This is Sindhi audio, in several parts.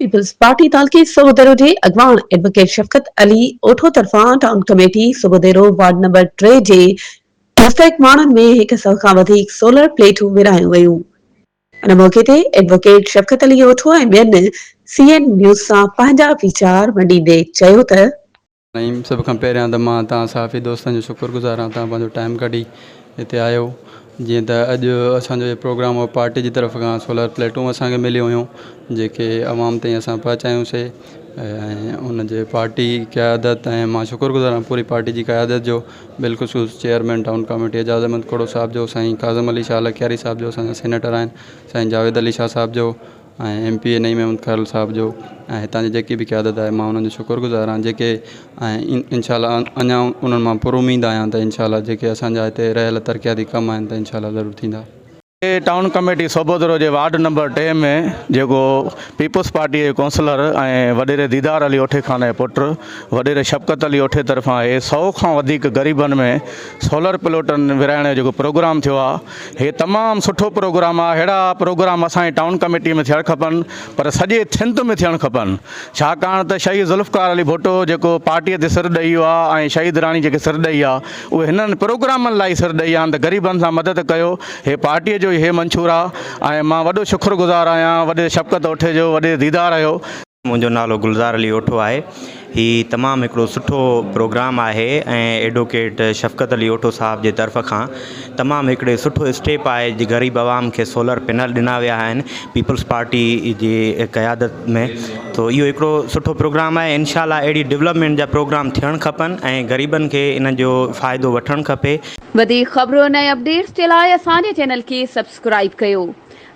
پيپلز پارٽي تعلقي سوڀوديرو جي اڳواڻ ايڊووڪيٽ شفقت علي اوٺو طرفان town committee Sobhodero ward number ٽي جي مستحق ماڻهن ۾ هڪ سئو کان وڌيڪ سولر پليٽون ورهايون ويون. ان موقعي تي ايڊووڪيٽ شفقت علي اوٺو ۽ ٻين سي اين نيوز سان پنهنجا ويچار ونڊيندي چيو ته، نعيم سڀ کان پهريان ته مان توهان صحافي دوستن جو شڪر گذار آهيان توهان پنهنجو ٽائيم ڪڍي هتي آيو جيئن ته اڄ اسان جو هي پروگرام هو پارٽي جي طرف کان سولر پليٽون اسان کي مليون هيون جيڪي عوام تائين اسان پهچايون سي ۽ ان جي پارٽي قيادت ۽ مان شڪر گذار آهيان پوري پارٽي جي قيادت جو بالخصوص chairman town committee Ejaz Ahmed Khuhro صاحب جو سائين ڪاظم علي شاهه لڪياري صاحب جو اسان جا سينيٽر آهن سائين جاويد علي شاهه صاحب جو ۽ M P A Naeem Ahmed Khuhro صاحب جو ۽ هتان جي جيڪي به قيادت آهي مان انهن جو شڪر گذار آهيان جيڪي ۽ انشاء الله اڃا انهن مان پر اميد آهيان ته انشاء الله جيڪي اسانجا هتي رهيل ترقياتي ڪم آهن ته انشاء الله ضرور ٿيندا. ٽائون ڪميٽي سوڀودرو جي وارڊ نمبر ٽي ۾ جيڪو پيپلز پارٽيء جي ڪونسلر ۽ وڏيري ديدار علي اوٺي خان جي پٽ وڏيري شفقت علي اوٺي طرفان اهي سئو کان وڌيڪ غريبن ۾ سولر پلوٽن ورهائڻ جو جيڪو پروگرام ٿيو آهي هي تمام سٺو پروگرام آ ههڙا پروگرام اسان جي ٽائون ڪميٽي ۾ ٿيڻ کپن پر سڄي ٿنڌ ۾ ٿيڻ کپن ڇاڪاڻ ته شهيد ذوالفقار علي ڀٽو جيڪو پارٽي تي سر ڏئي آ ۽ شهيد راڻي جيڪي سر ڏئي آ اهي هنن پروگرامن لاء ئي سر ڏئي آن ته غريبن سان مدد ڪيو هي پارٽي جو ئي هي منشور آ ۽ مان وڏو شڪر گذار آهيان وڏي شفقت اوٺي جو وڏي ديدار هيو منهنجو نالو گلزار علي اوٺو آهي هي تمام هڪڙو سٺو پروگرام آهي ۽ ايڊوڪيٽ شفقت علي اوٺو صاحب جي طرف کان تمام هڪڙي سٺو اسٽيپ آهي جي غريب عوام کي سولر پينل ڏنا ويا آهن پيپلز پارٽي جي قيادت ۾ تو اهو هڪڙو سٺو پروگرام آهي انشاء الله اهڙي ڊولپمينٽ جا پروگرام ٿيڻ کپن ۽ غريبن کي ان جو فائدو وٺڻ کپي. وڌيڪ خبرون ۽ اپڊيٽس جي لاء اسان جي چينل کي سبسڪرائيب ڪيو.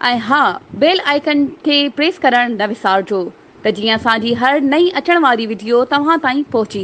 ۽ ها بيل آئيڪن کي پريس ڪرڻ نه وسارجو ته جيئن اسان جي هر نئين اچڻ واري وڊيو توهان تائين پهچي